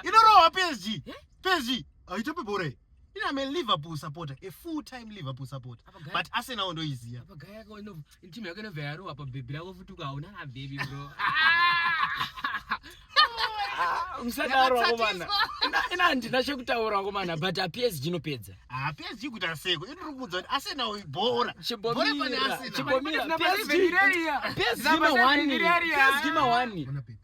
inorohwa psg eh? psg haitope bhora iyi ini am a liverpool supporter a full time liverpool supporter but arsenal ndoiziva apagaya yako timu yako inobva yarohwa pabhebhi rako futi ukaona abhebhi bro musadaro vakomana ina handina chekutaura vakomana but apsg inopedza apsg kuita seko ini tiri kuudza kuti asena bhora chibomira chibomira psg ma 1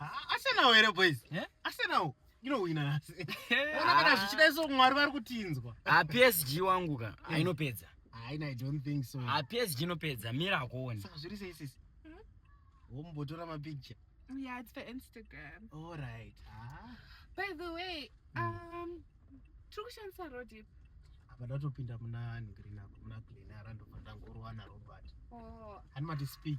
Arsenal here boys? Eh? Arsenal inowina nhasi. Ona kana ah. zvichida iso Mwari vari kutinzwa. Ah PSG wangu ka eh. ainopedza. Haina I don't think so. Ah PSG inopedza mira akuone. Saka zviri sei sisi? Hmm? Wombotora ma picture. Yeah, it's for Instagram. All right. Ah. By the way, hmm. um tiri kushandisa road ipi? Apa ndatopinda muna Green muna Glen Arando pandangorwa na Robert. Oh. Hanimati speak.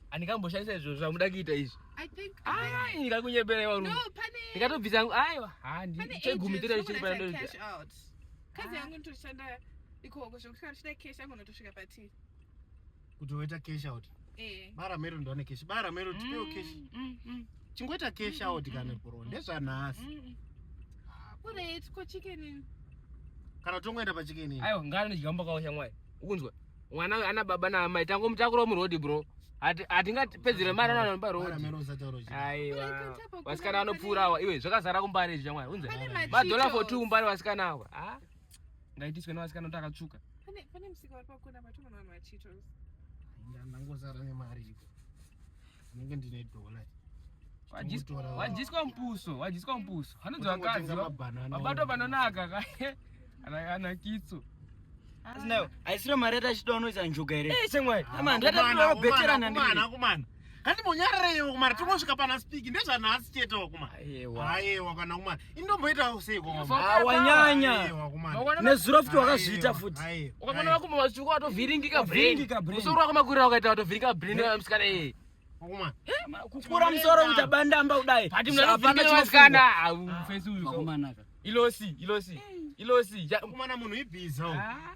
andikamboshandisa izvo zvamuda kuita izvi ndikakunyepera iwa rume ndikatobvisa yangu aiwa chegumi totachichipaaakazi yangu nitoshanda ikoko zvekuti kana tichida cash yangu notosvika patii kuti woita cash out eh. bara mero ndone cash bara mero tipeo mm, cash mm, mm. chingoita cash out kana bro ndezvanhasi ureitko chicken kana tongoenda pachicken aiwa ngana ndichikambokaosha mwai ukunzwa mwana uyu ana baba naamai tangomutakurawo muroad bro hatingapedzere mari ananoba road aiwa vasikana vanopfuura awa iwe zvakazara kumbare izvi chamwari unze madhola for two kumbare vasikana awa ah, ngaitiswe nevasikana kuti akatsvuka pane musika vari pakona matuma vanhu vachitos ndangozara nemari iko ndinenge ndine dollar wadyiswa mupuso wadyiswa mupuso anonzi vakadzi vabatwa panonaka kae ana kitso asinayo aisiro mari yatachida unoisa njuga here eh, chemwai ama ndatatinobheterana ndiana kumana kandimonyarareyewo kumana tongosvika pana spiki ndezvanhasi chete wakumana ayewa kana kumana indomboitawo sei awanyanya nezuro futi wakazviita futi ukamona vakumo vatsvuku watovhiringika brainmusoro wako makurira wakaita watovhiringa brain msikana eye kukura musoro kuita bandamba kudai ilosi ilosi ilosi kumana munhu ibhiza ah,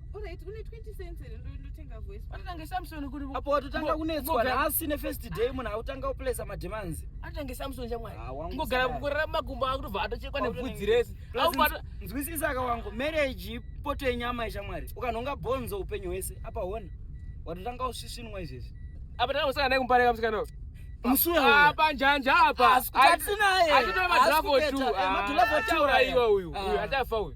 Alright, une 20 cents here ndotenga voice. Watotanga Samson kuri. Apo watotanga kunetswa nhasi ne first day munhu autanga uplace ma demands. Atotanga Samson chamwari. Ah, Ngogara kukorera makumbo akutobva atochekwa nebvudzi rese. Aubata nzwisisa aka wangu marriage poto yenyama yechamwari. Ukanhonga bonzo upenyu hwese apa hona. Watotanga usvisvinwa izvezvi. Apa tanga kusangana naye kumbare kamusikana. Musuwa. Apa ah, njanja apa. Asikutsinaye. Atitoba draft 2. Matulapo taura iwe uyu. Uyu atafa uyu.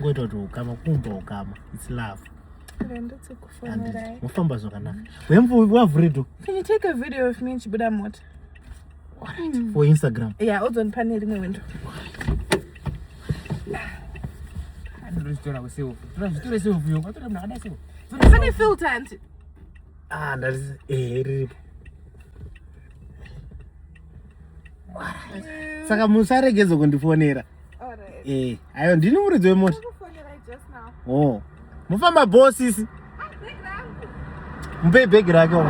ngoita kuti ukama kumba ukama its love mofamba zvakanaka wembo wavhuredo can you take a video of me ndichibuda mota hmm. for instagram ya odzonipa nerimwe wendo pane filter anti ah ndati ehe eh, riripo saka musaregedza kundifonera Eh, ayo ndini muridzi wemota. Oh. Mufamba bho sisi. Mupei bhegi rake uko.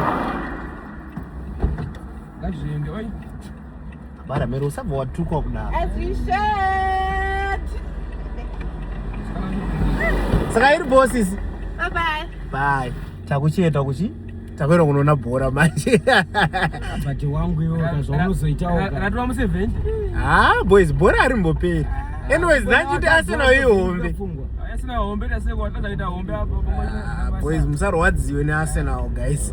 Ngazviende oi. Bara mero usabva watukwa kudaro. As we should. Saka iri bho sisi. Bye bye. Bye. Takuchienda kuchi? takuenda kunoona bhora manje but wangu iwo zvaunozoitawo ratova museveni ha ah, boys bhora harimboperi ah, anyways ndachiti asina ihombe ah, boys musarwadziwe nearsenal guys